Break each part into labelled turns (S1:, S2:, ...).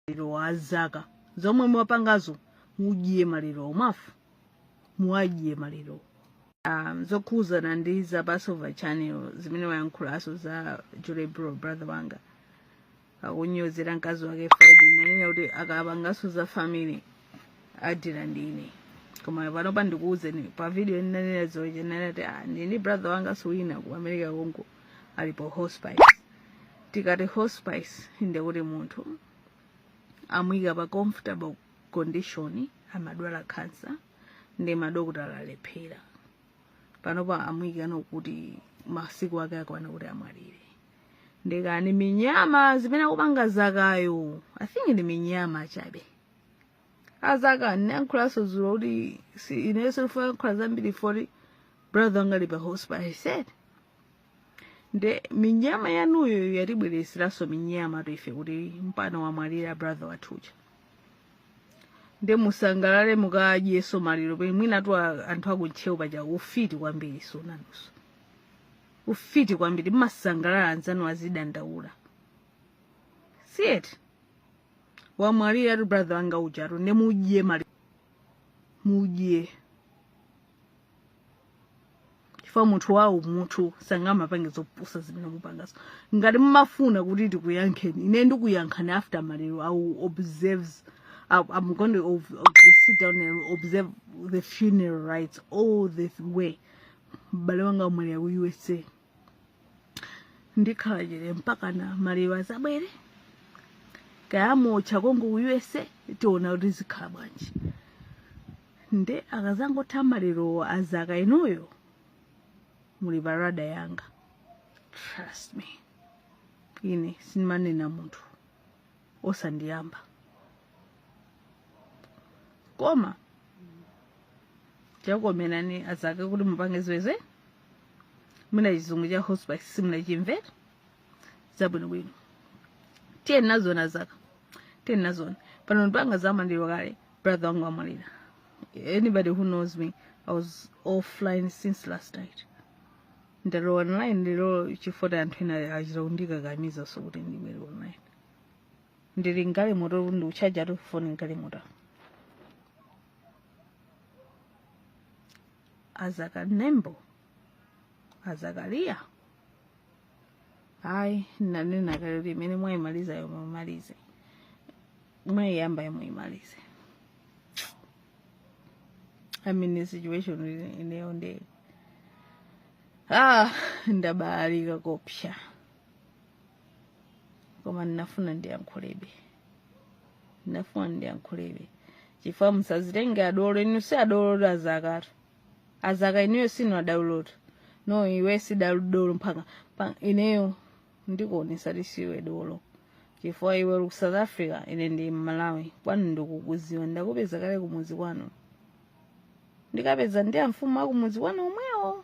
S1: maliro a zaka zomwe mwapangazo mudye maliro omafu muwadye maliro um, zokhuzana ndi za passover channel zimene wayankhulaso za julie bro brother wanga akunyozera mkazi wake friday nanena kuti akapangaso za family adira ndine koma panopa ndikuuzeni pa video ndinanena zoche nanati ah, ndili ndi brother wangaso wina ku america konko ali pa hospice tikati hospice nde kuti munthu amuyika pa comfortable condition amadwala cancer ndi madokotala alephera panopa amuyikano kuti masiku ake akwana kuti amwalire ndikani minyama zimene akupanga zakayo i think ndi minyama chabe azaka ndinayankhulanso dzulo kuti si ineso ndifuna yankhula zambiri poti brother wanga ali pa hospital i said nde minyama yanuyo yatibwereseranso minyama toife kuti mpana wamwalira brother wathu uja nde musangalale mukadyeso maliro pe mwinatu a- anthu akuntchewu paja ufiti kwambiri so nanuso ufiti kwambiri mmasangalala anzanu azidandaula si eti wamwaliratu brother wanga ujatu nde mudye maliro mudye chifukwa munthu wawo munthu sangamapange zopusa zimene mupangazo ngati mumafuna kuti tikuyankheni ine ndikuyankhani after maliro i will observe I- i'm going to ob- ob- sit down and observe the funeral rites all the way m'bale wanga wamwalira ku usa ndikhala chete mpakana maliro azabwere kaya amuotcha konko ku usa tiona kuti zikhala bwanji nde akazangotha malirowo azaka inuyo muli pa radar yanga trust me ine sindimanena munthu osandiyamba koma chakukomerani azaka kuti mupange ziweze mwina chizungu cha hospice simunachimvera zabwinobwino tiyeni nazoni azaka tiyeni nazoni pano ndipanga zamaliro kale brother wanga wamwalira anybody who knows me i was offline since last night ndalowa online ndilo chifukwa anthu ena achita kundikakamizaso kuti ndibwere online ndili m'galimoto ndikuchajatu foni m'galimoto azaka nembo azakaliya ayi nanena kale kuti imene mwayimalizayo muyimalize mwayiyambayo muyimalize i'm in a situation ineyo nde ah ndabalalika koopsa koma ndinafuna ndiyankhulebe ndinafuna ndiyankhulebe chifukwa musazitenge adolo inu si adolo azakatu azaka inuyo sinu adolotu no iwe si dolo mpaka pa- ineyo ndikuonesa kuti siwe dolo chifukwa iwe uli ku south africa ine ndi mmalawi kwanu ndikukuziwa ndakupeza kale kumudzi kwanu ndikapeza ndi amfumu akumudzi kwanu omwewo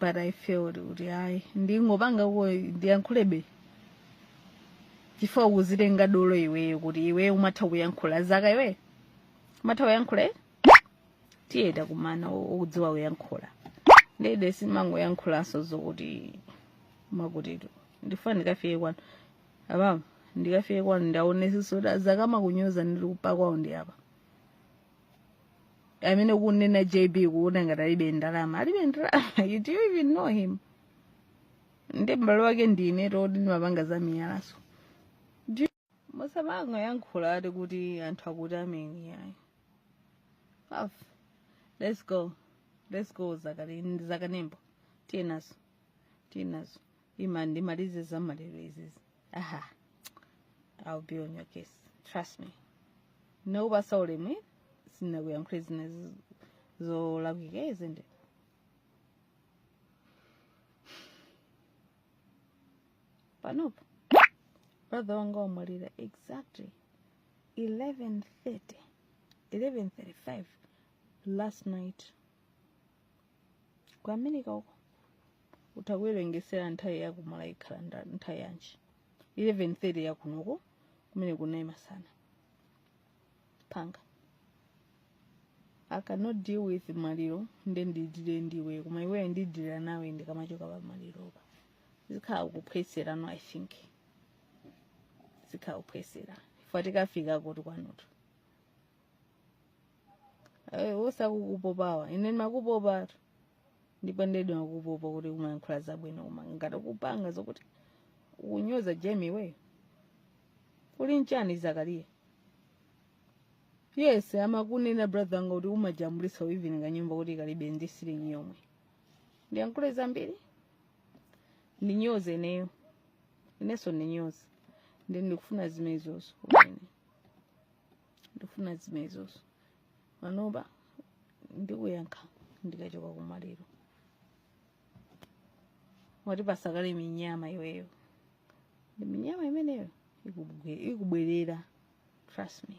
S1: but i felt kuti ayi ndingopangako ndiyankhulebe chifukwa ukuzitenga dolo iweyo kuti iweyo umatha kuyankhula zaka iweyo umatha kuyankhula eh? tiye takumana o- okudziwa kuyankhula ndede simangoyankhulanso zokuti makutitu ndifuna ndikafike kwanu apapo ndikafike kwanu ndaonesiso kuti zaka amakunyoza ndili upa kwawo ndi apa amene ukunena jb kuona ngati alibe ndalama alibe ndalama you do you even know him ndi m'bale wake ndine toti ndimapanga za miyalaso musamangoyankhula ati kuti anthu akuti amen yayi let's go let's go zakale zakanembo tiyenazo tiyenazo ima ndimalize za maliro izizi aha i'll be on your case trust me ndinakupasa ulemu sinakuyankhule zina zi- zolakwika izi nde panopa brother wanga wamwalira exactly 11:30 11:35 last night ku america uko utakuwerengesera nthawi yakumalawi ikhala nda- nthawi yanji 11:30 yakunoko kumene kunali masana panga i cannot deal with maliro nde ndidire ndiwe koma iweyo ndidira nawe ndikamachoka pa maliropa zikhala kuphweserano i think zikhala kuphwesera ifwa tikafika kuti kwanutu Eh, osakukupopawa ine ndimakupopatu ndipo ndedi ndimakupopa kuti umayankhula zabwino koma ngati kupanga zokuti ukunyoza jemi iweyo uli nchani zakariya yes amakunena brother wanga kuti umajambulisa even kanyumba kuti kalibe ndi silingi yomwe ndiyankhule zambiri ndinyoze ineyo inenso ndinyoze ndi ndikufuna zimenezozo kumene ndikufuna zimenezozo panopa ndikuyankha ndikachoka kumaliro wati patsa kale minyama iweyo ndi minyama imeneyo ikubwe- ikubwerera trust me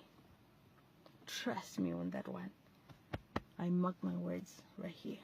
S1: trust me on that one i mark my words right here